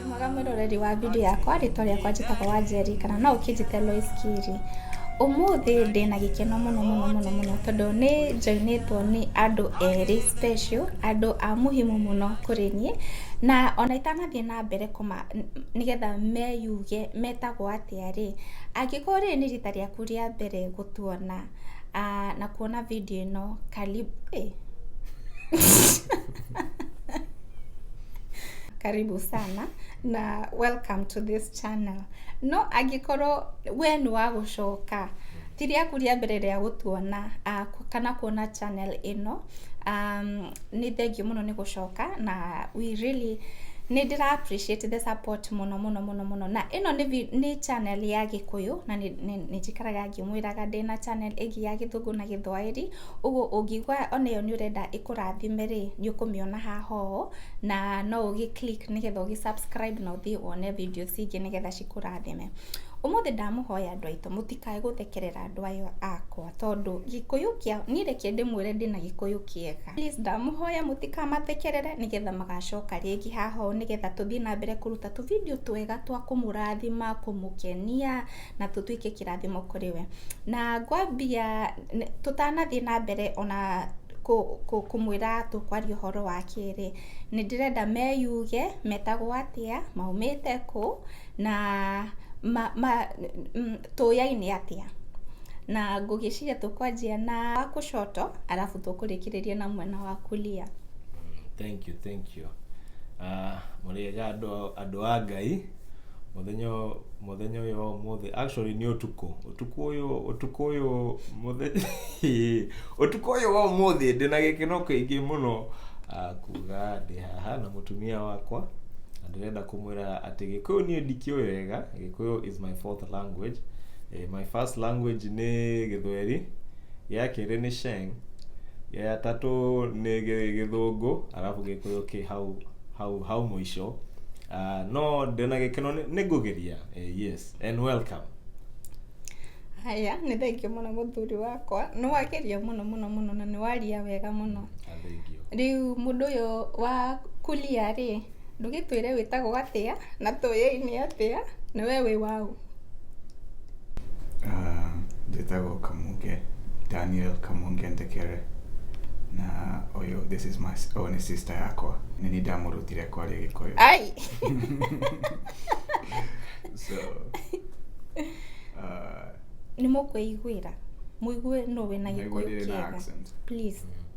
mwega mwĩroreri wa video yakwa rĩtwa rĩakwa njĩtagwo wa njeri kana no ũkĩnjĩte Lois Kiri ũmũthĩ ndĩ na gĩkeno mũno mũno mũno mũno tondũ nĩ njoinĩtwo nĩ andũ erĩ special andũ a muhimu mũno kũrĩ niĩ na ona itanathiĩ na mbere kũma nĩgetha meyuge metagwo atĩa rĩ angĩkorwo rĩrĩ nĩ rita rĩaku rĩa mbere gũtuona na kuona video ĩno karibu eh. karibu sana na welcome to this channel no angĩkorwo we nĩ wa gũcoka ti rĩaku rĩa mbere rĩa gũtuona ah, ku- kana kuona channel ĩno um, nĩ thengiũ mũno nĩ gũcoka na we really nĩ ndĩra appreciate the support mũno mũno mũno mũno na ĩno nĩ, vi- nĩ channel ya gĩkũyũ na nĩ- nĩ nĩ njikaraga Ndĩmwĩraga ndĩ na channel ĩgiĩ ya gĩthũngũ na gĩthwaĩri, ũguo ũngĩigua ona ĩyo nĩ ũrenda ĩkũrathime rĩ, nĩ ũkũmĩona haha ũũ, na no ũgĩ click nĩgetha ũgĩ subscribe na ũthiĩ wone video cingĩ nĩgetha cikũrathime. Ũmũthĩ ndamũhoya andũ aitũ mũtikae gũthekerera andũ aya akwa tondũ gĩkũyũ kĩa, niĩ reke ndĩmwĩre ndĩna gĩkũyũ kĩega. Please ndamũhoya mũtikamathekerere nĩgetha magacoka rĩngĩ haha ũũ nĩgetha tũthiĩ na mbere kũruta tũ video twega twa kũmũrathima, kũmũkenia. na tũtuĩke kĩrathimo kũrĩ we. Na ngwambia tũtanathiĩ na mbere ona kũmwĩra tũkwaria ũhoro wake rĩ, nĩ ndĩrenda meyuge metagwo atĩa, maumĩte kũ, na tũyaine atĩa. Na ngũgĩciria tũkwanjia na wa kushoto alafu tũkũrĩkĩrĩria na mwena wa kulia. Thank you, thank you. Uh, mũrĩega andũ a Ngai. mũthenya ũyũ- mũthenya ũyũ wa ũmũthĩ actually nĩ ũtukũ ũtukũ ũyũ ũtukũ ũyũ mũthenya ũtukũ ũyũ wa ũmũthĩ ndĩ na gĩkeno kĩingĩ mũno ah, kuga ndĩ haha na mũtumia wakwa na ndĩrenda kũmwĩra atĩ gĩkũyũ niĩ ndikĩũĩ wega gĩkũyũ is my fourth language eh, my first language nĩ gĩthweri gĩa kerĩ nĩ sheng ya gatatũ nĩ gĩ- gĩthũngũ arabu gĩkũyũ kĩ hau hau hau mũico Ah, no ndĩna gĩkeno nĩ- nĩngũgeria Eh, yes and welcome haya nĩ thengio mũno mũthuri wakwa nĩ wageria mũno mũno mũno na nĩ waria wega mũno Ah, thank you rĩu mũndũ ũyũ wa kulia rĩ ndũgĩtwĩre wĩtagwo atĩa na tũyei nĩ atĩa na we wĩ waũ njĩtagwo kamunge daniel kamunge ndekere na ũyũ this is my oh, nĩ sister yakwa nĩ niĩ ndamũrutire kwaria gĩkũyũ ai so uh, nĩ mũkwĩiguĩra mũigue no wĩna naigua gĩkũyũ ndĩrĩ na kĩega accent please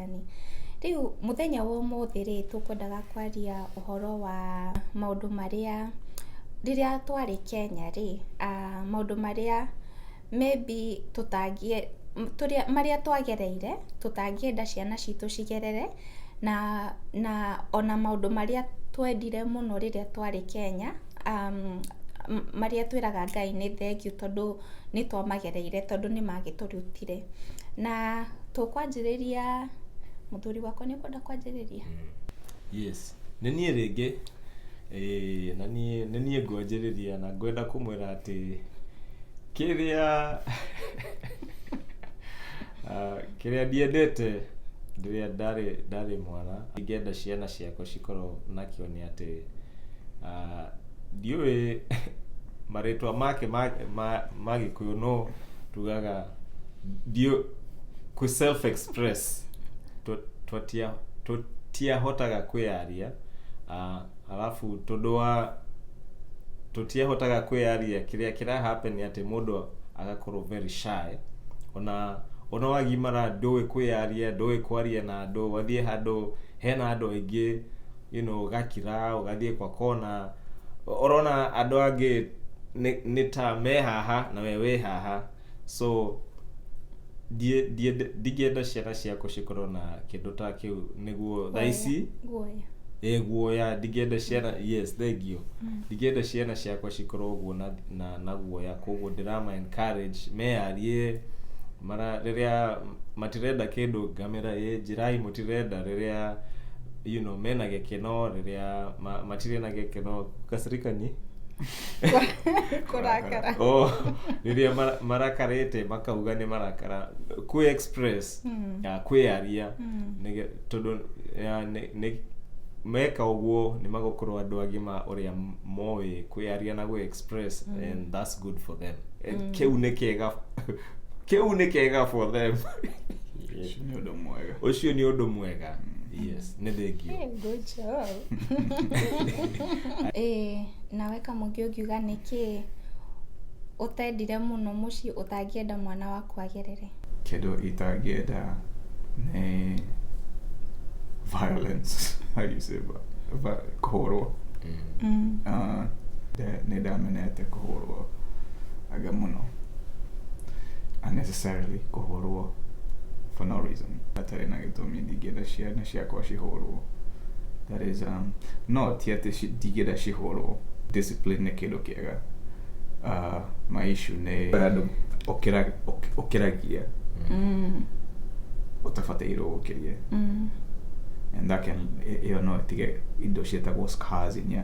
ũrigitani. Rĩu mũthenya wa ũmũthĩ rĩ, tũkwendaga kwaria ũhoro wa maũndũ marĩa rĩrĩa twarĩ Kenya rĩ, maũndũ marĩa maybe marĩa twagereire tũtangĩenda ciana citũ cigerere, na na ona maũndũ marĩa twendire mũno rĩrĩa twarĩ Kenya, marĩa twĩraga Ngai nĩ thengiũ tondũ... nĩ twamagereire tondũ nĩ magĩtũrutire. Na tũkwanjĩrĩria, mũthuri wakwa nĩ ũkwenda kwanjĩrĩria? Yes. Nĩ niĩ rĩngĩ, ĩĩ na niĩ, nĩ niĩ ngwanjĩrĩria na ngwenda kũmwĩra atĩ kĩrĩa ah, kĩrĩa ndiendete rĩrĩa ndarĩ, ndarĩ mwana, ingĩenda ciana ciakwa cikorwo nakĩo nĩ atĩ ah, ndiũĩ marĩtwa make ma ma ma gĩkũyũ no tugaga ndiũ kũ self express Tũ- tũtia- tũtiahotaga kwĩyaria Ah, alafu tondũ wa tũtiahotaga kwĩyaria kĩrĩa kĩra happen nĩ atĩ mũndũ agakorwo very shy ona ona wagimara ndũĩ kwĩyaria ndũĩ kwaria na andũ wathiĩ handũ hena andũ aingĩ you know, ũgakira ũgathiĩ kwa kona ũrona andũ angĩ nĩ- nĩ ta me haha na we wĩ haha so ndiĩ- ndiĩ- ndingĩenda ciana ciakwa cikorwo na kĩndũ ta kĩu nĩguo thaa ici guoya ĩ guoya ndingĩenda ciana yes thengio ndingĩenda ciana ciakwa cikorwo ũguo na, na, na guoya koguo ndĩrama encourage meyarie mara rĩrĩa matirenda kĩndũ ngamera ĩ njĩrai mũtirenda rĩrĩa you know mena gĩkeno rĩrĩa ma, matirĩ na gĩkeno kasirikanyi kũrakara oh, rĩrĩa mara- marakarĩte makauga nĩ marakara kwĩ express Mm. ya kwĩyaria Mm. nĩge- tondũ ya, nĩ- nĩ- meka ũguo nĩ magũkorwo andũ agima ũrĩa moĩ kwĩyaria na gwĩ express and that's good for them And kĩu nĩ kĩega kĩu nĩ kega for them Ũcio nĩ ũndũ mwega. ũcio nĩ ũndũ mwega yes nĩ thengio Hey, good job. Ĩĩ, nawe kamũngĩ ũngiuga nĩkĩ ũtendire mũno mũciĩ ũtangĩenda mwana waku agerere Kĩndũ itangĩenda nĩ violence. How you say vi- vi- kũhũrwo. Mm. Ah, nda- nĩ ndamenete kũhũrwo aga mũno. unnecessarily kũhũrwo for no reason hatarĩ na gĩtũmi ndingĩenda ciana ciakwa cihũrwo that is um, no ti atĩ ci- ndingĩenda cihũrwo discipline nĩ kĩndũ kĩega uh, my issue nĩ handũ ũkĩra- ũk- ũkĩragia Mm, ũtabatairwo gũkĩria mm. and that can ĩyo no ĩtige indo ciĩtagwo scars in your,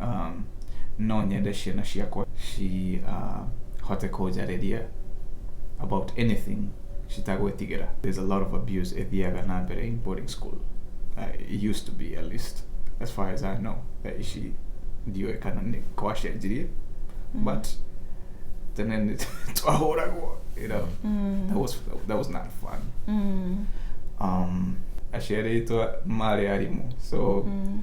um, no nyende ciana ciakwa cihote uh, kũnjarĩria about anything citagwĩtigĩra there's a lot of abuse ĩthiaga na mbere in boarding school uh, it used to be at least as far as I know that she ndiũĩ kana nĩ kwacenjirie mm. but tene nĩ twahũragwo you know mm. that was that was not fun mm. um, aciarĩtwo marĩ arimũ so mm.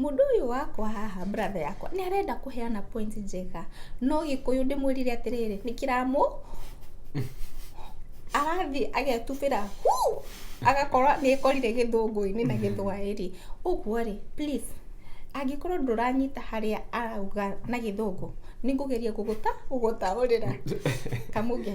Mũndũ ũyũ wakwa haha brother yakwa nĩ arenda kũheana point njega no gĩkũyũ ndĩmwĩrire atĩrĩrĩ nĩ kĩramũ arathiĩ agetubĩra hu agakorwo nĩ ekorire gĩthũngũ-inĩ na gĩthwaĩri ũguo rĩ please angĩkorwo ndũranyita harĩa arauga na gĩthũngũ nĩ ngũgeria gũgũta gũgũtaũrĩra kamuge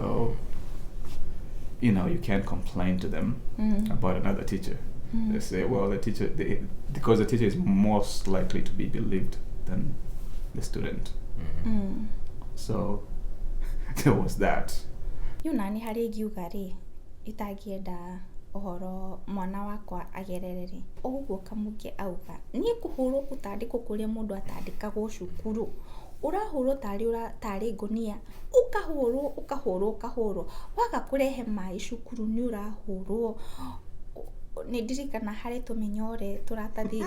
So, you know, you can't complain to them mm. about another teacher. Mm. They say, well, the teacher, they, because the teacher is most likely to be believed than the student. Mm. mm. So, there was that. You nani hari giuga ri itagienda ũhoro mwana wakwa agerere rĩ ũguo kamũngĩ auga niĩ kũhũrwo gũtandĩkwo kũrĩa mũndũ atandĩkagwo cukuru ũrahũrwo tarĩ ũra tarĩ ngũnia ũkahũrwo ũkahũrwo ũkahũrwo waga kũrehe maĩ cukuru nĩ ũrahũrwo nĩ ndirikana harĩ tũmĩnyore tũratathi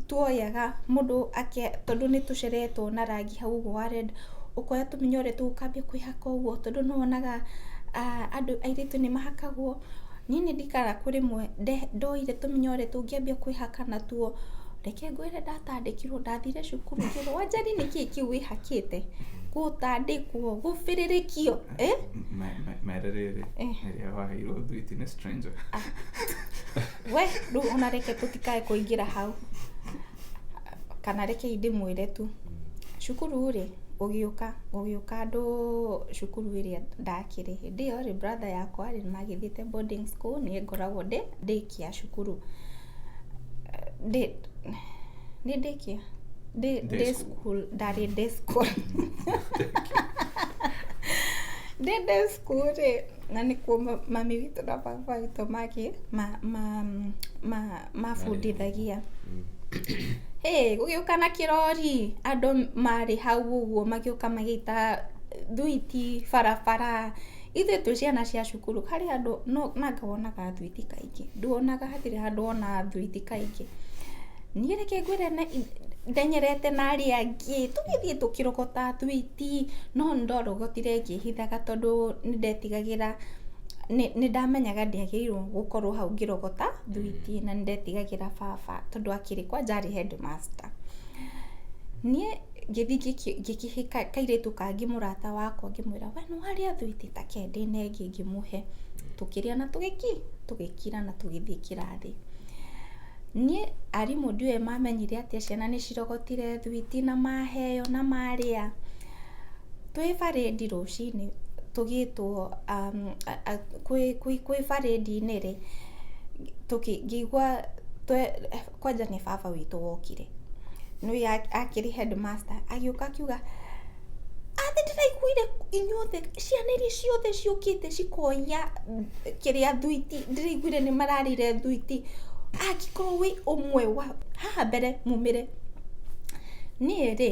tuoyaga mũndũ ake tondũ nĩ tũceretwo na rangi hau ũguo wa red ũkoya tũmĩnyore tũu ũkambia kwĩhaka ũguo tondũ nĩ wonaga andũ airĩtu nĩ mahakagwo. Niĩ nĩ ndikaraga kũrĩ mwe ndoire tũmĩnyore tũngĩambia kwĩhaka natuo. Reke ngwĩre ndatandĩkirwo ndathire cukuru ngĩrwo Wanjari nĩ kĩĩ kĩu wĩhakĩte? Gũtandĩkwo, gũbĩrĩrĩkio, ĩ? Mere rĩrĩ, rĩrĩa waheirwo thwiti nĩ stranger. We, rĩu ona reke tũtikae kũingĩra hau. kana reke ndĩmwĩre tu, cukuru rĩ, ũgĩũka, ũgĩũka andũ cukuru ĩrĩa ndakĩrĩ, hĩndĩ ĩyo rĩ, brother yakwa rĩ, nĩmagĩthiĩte boarding school, niĩ ngoragwo ndĩ day care cukuru, day, nĩ day care? day day school, ndarĩ day school ndĩ day school rĩ, na nĩkuo mami witũ na baba witũ magĩ, ma ma ma. mabundithagia. Hĩ! Gũgĩũka na kĩrori, andũ marĩ hau ũguo magĩũka magĩita thwiti barabara. Ithuĩ twĩ ciana cia cukuru, harĩ handũ nanga wonaga thwiti kaingĩ? Nduonaga, hatirĩ handũ wonaga thwiti kaingĩ. Niĩ reke ngwĩre ndenyerete na arĩa angĩ, tũgĩthiĩ tũkĩrogotaga thwiti, no nĩ ndarogotire ngĩĩhithaga tondũ nĩ ndetigagĩra. nĩ nĩndamenyaga ndiagĩrĩirwo gũkorwo hau ngĩrogota thwiti na nĩndetigagĩra baba tondũ akĩrĩ kwanja arĩ headmaster. Niĩ ngĩthi ngĩkĩ ngĩkĩhe kairĩtu kangĩ mũrata wakwa ngĩmwĩra we nĩwarĩa thwiti ta ke ndĩne ĩngĩ ngĩmũhe. Tũkĩrĩa na tũgĩki tũgĩkira na tũgĩthiĩ kĩrathi. Niĩ arimũ ndiũĩ mamenyire atĩa ciana nĩcirogotire thwiti na maheo na marĩa. Twĩ barĩndi rũcinĩ tũgĩtwo, kwĩ barĩndi-inĩ rĩ, ngĩigua, kwanja nĩ baba witũ wokire, nĩwe akĩrĩ headmaster agĩũka akiuga, aah nĩ ndĩraiguire inyuothe, ciana iria ciothe ciũkĩte cikoya kĩrĩa thwiti, ndĩraiguire nĩ mararĩire thwiti, angĩkorwo wĩ ũmwe wao, haha mbere mumĩre. Niĩ rĩ...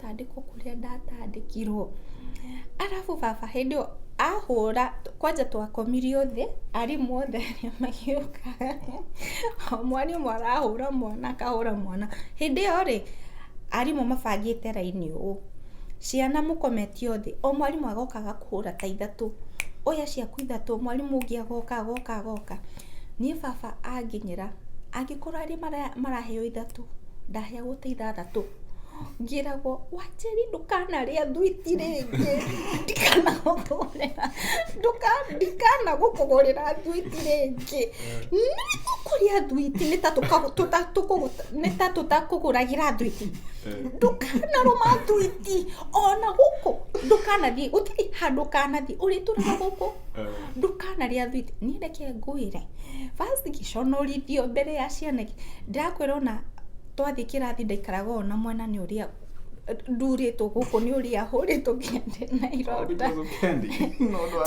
tandĩkwo kũrĩa ndatandĩkirwo arabu baba hĩndĩ ĩyo ahũra kwanja twakomirio thĩ arimũ othe magĩũka o mwarimũ arahũra mwana akahũra mwana hĩndĩ ĩyo rĩ arimũ mabangĩte raini ũũ ciana mũkometio thĩ o mwarimũ agokaga kũhũra ta ithatũ oya ciaku ithatũ mwarimũ ũngĩ agoka agoka agoka niĩ baba anginyĩra angĩkorwo arĩa maraheo ithatũ ndaheagwo ta ithathatũ. ngĩragwo wanjeri ndũkanarĩa thwiti rĩngĩ ndikanagũtũrĩra ndikanagũkũgũrĩra thwiti rĩngĩ nĩtũkũrĩa thwiti nĩ ta tũtakũgũragĩra thwiti ndũkanarũma thwiti ona gũkũ ndũkanathiĩ gũtirĩ handũ ũkanathiĩ ũrĩtũraga gũkũ ndũkanarĩa thwiti niĩ reke ngwĩre first ngĩconorithio mbere ya ciana ndĩrakwĩra ona twathiĩ kĩrathi ndaikaraga ũũ na mwena nĩ ũrĩa ndurĩtwo gũkũ nĩ ũrĩa hũrĩtwo nginya ndĩna ironda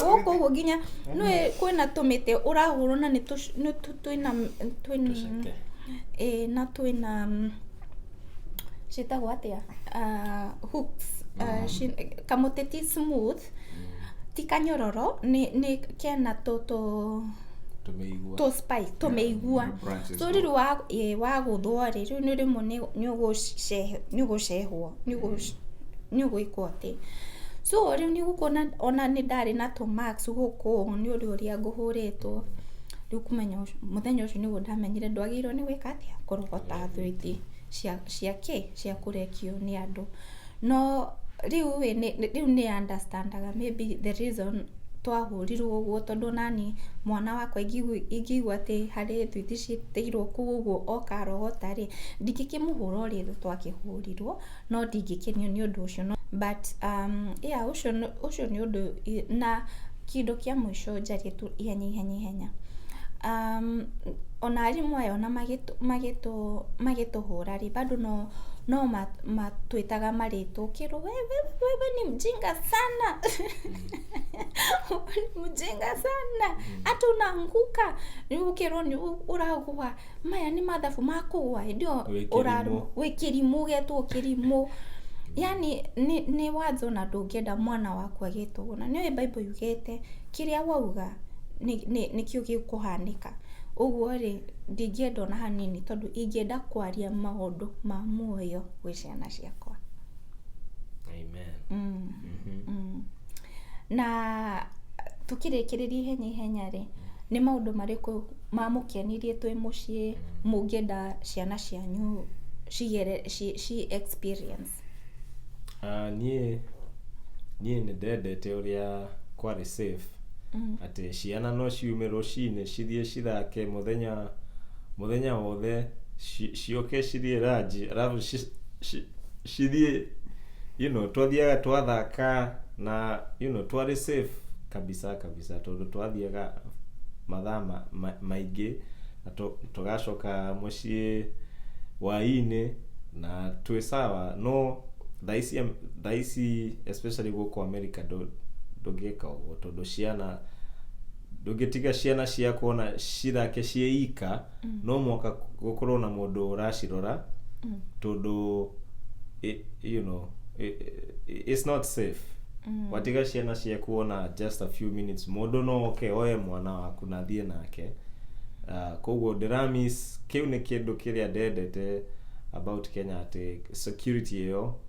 gũkũ ũguo nginya nĩ kwĩna tũmĩtĩ ũrahũrwo na nĩ tũc- nĩ tũ- twĩna twĩna Tũceke. ĩĩ na twĩna mm, ciĩtagwo atĩa Ah, hooks Ah, ci- kamũtĩ ti smooth ti kanyororo nĩ nĩ kena tũ tũ tũmĩigua tũ spice tũmĩigua Yeah, branches. so rĩu wa ĩ, wagũthwo rĩ rĩu nĩ rĩmwe nĩ- nĩ ũgũce- nĩ ũgũcehwo nĩ ũgũ- nĩ ũgwĩkwo atĩ so rĩu nĩ ũkuona ona nĩ ndarĩ na tũ max gũkũ nĩ ũrĩ ũrĩa ngũhũrĩtwo rĩu kũmenya ũcio- mũthenya ũcio nĩguo ndamenyire ndwagĩrĩirwo nĩ gwĩka atĩa kũrogota thwiti cia cia kĩ cia kũrekio nĩ andũ No rĩu ĩ, rĩu nĩ understand aga maybe the reason twahũrirwo ũguo tondũ onaniĩ mwana wakwa ingĩigua atĩ harĩ thwiti citĩirwo kũu ũguo oka arogota rĩ, ndingĩkĩmũhũra ũrĩa ithuĩ twakĩhũrirwo, no ndingĩkenio nĩ ũndũ ũcio. But yeah ũcio nĩ ũndũ, na kĩndũ kĩa mũico njarie tu. ihenya ihenya ihenya. Ona arimũ aya ona magĩtũhũra rĩ, bado no matwĩtaga marĩtwa, ũkerwo we we we we ni mjinga sana mjinga sana hata unaanguka, rĩu ũkerwo ũragũa. maya nĩ mathabu ma kũgwa hĩndĩ ĩyo Wĩ kĩrimũ. ũrarũma wĩ kĩrimũ ũgetwo kĩrimũ yani nĩ, nĩ watho na ndũngĩenda mwana waku agetwo ũguo na nĩũĩ bible yugĩte kĩrĩa wauga nĩ, nĩ, nĩkĩo gĩkũhanĩka ũguo rĩ ndingĩenda ona hanini tondũ ingĩenda kwaria maũndũ ma muoyo gwĩ ciana ciakwa Amen. mm. Mhm. Mm. na tũkĩrĩkĩrĩria ihenya ihenya rĩ nĩ maũndũ marĩkũ mamũkenirie twĩ mũciĩ mũngĩenda ciana cianyu cigere ci, ci experience Ah, niĩ niĩ nĩ ndendete ũrĩa kwarĩ safe Mm. atĩ ciana no ciume rũcinĩ cithiĩ cithake mũthenya mũthenya wothe ci- ciũke cithiĩ ranji arabu ci- ci- cithiĩ you know twathiaga twathaka na you know twarĩ safe kabisa kabisa tondũ twathiaga mathaa ma- ma- maingĩ na tũ- tũgacoka mũciĩ wainĩ na twĩ sawa no thaa ici thaa ici especially gũkũ america ndũ- ndũngĩka ũguo tondũ ciana ndũngĩtiga ciana ciaku ona cithake ciĩ ika mm. no mwaka gũkorwo na mũndũ ũracirora mm. tondũ you know it's not safe mm. watiga ciana ciaku ona just a few minutes mũndũ no oke oye mwana waku na thiĩ nake uh, koguo ndĩramis kĩu nĩ kĩndũ kĩrĩa ndendete about kenya atĩ security ĩyo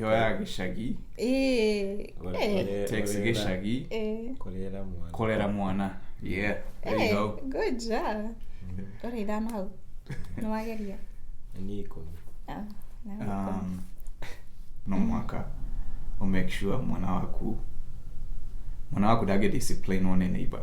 yoyaga gĩcagi takes gĩcagi kũrera mwana yeah there you go good job ũrĩ ithano hau nĩ wageria nĩ ikũmi ah, um, no mwaka o make sure mwana waku mwana waku ndangĩ discipline one neighbor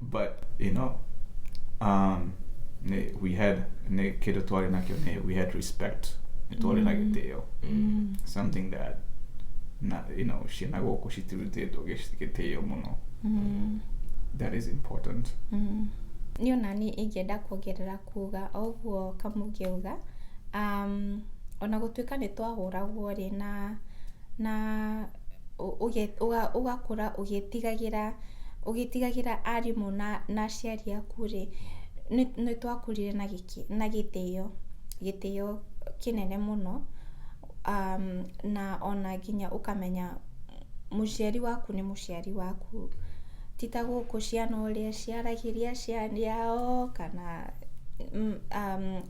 but you know um, ne, we had ne kĩndũ twarĩ nakĩo ne we had respect nĩ twarĩ na gĩtĩo something that na you know ciana gũkũ citirutĩtwo gĩci- gĩtĩo mũno that is important niä ona niä ingĩenda kuongerera kuga o ũguo kamũngĩauga um, ona gũtuĩka nĩ twahũragwo rĩ na na ũgakũra ũgĩtigagĩra ũgĩtigagĩra arimũ na aciari aku rĩ, nĩ twakũrire na gĩtĩo, gĩtĩo kĩnene mũno na ona nginya ũkamenya mũciari waku nĩ mũciari waku. Ti ta gũkũ ciana ũrĩa ciaragĩria aciari ao kana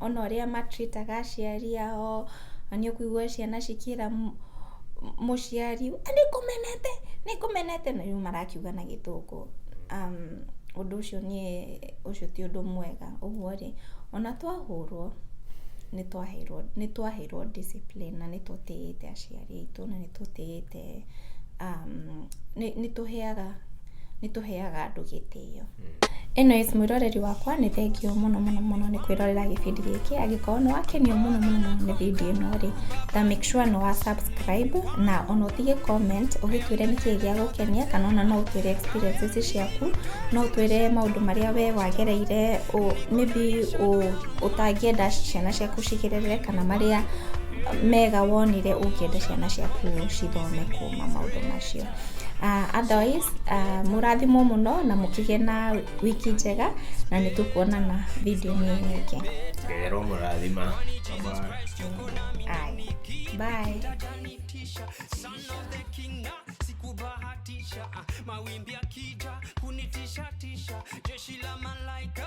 ona ũrĩa ma treat aga aciari ao. na nĩ ũkũigua ciana cikĩra mũciari nĩ ngũmenete nĩ ngũmenete na rĩu marakiuga na gĩthũngũ ũndũ ũcio niĩ ũcio ti ũndũ mwega ũguo rĩ ona twahũrwo nĩ twaheirwo nĩ twaheirwo discipline na nĩ tũtĩĩte aciari aitũ na nĩ tũtĩĩte. Eh, um, nĩ nĩ tũheaga nĩ tũheaga andũ gĩtĩo anyways mwĩroreri wakwa nĩ thengio mũno mũno mũno nĩ kwĩrorera gĩbindi gĩkĩ angĩkorwo nĩ wakenio mũno mũno mũno nĩ bindi ĩno rĩ ta make sure nĩ wa subscribe na ona ũtige comment ũgĩtwĩre nĩ kĩĩ gĩa gũkenia kana ona no ũtwĩre experiences ciaku no ũtwĩre maũndũ marĩa we wagereire ũ- maybe ũ- ũtangĩenda ciana ciaku cigerere kana marĩa mega wonire ũngĩenda ciana ciaku cithome kuma maũndũ macio uh, otherwise uh, mũrathimwo mũno na mũkĩgĩa na wiki njega na nĩ tũkuonana video-inĩ nyingĩ ngero mũrathima Aye. bye Utanitisha, son of the king, ah, sikubahatisha ah, mawimbi akija kunitisha tisha jeshi la malaika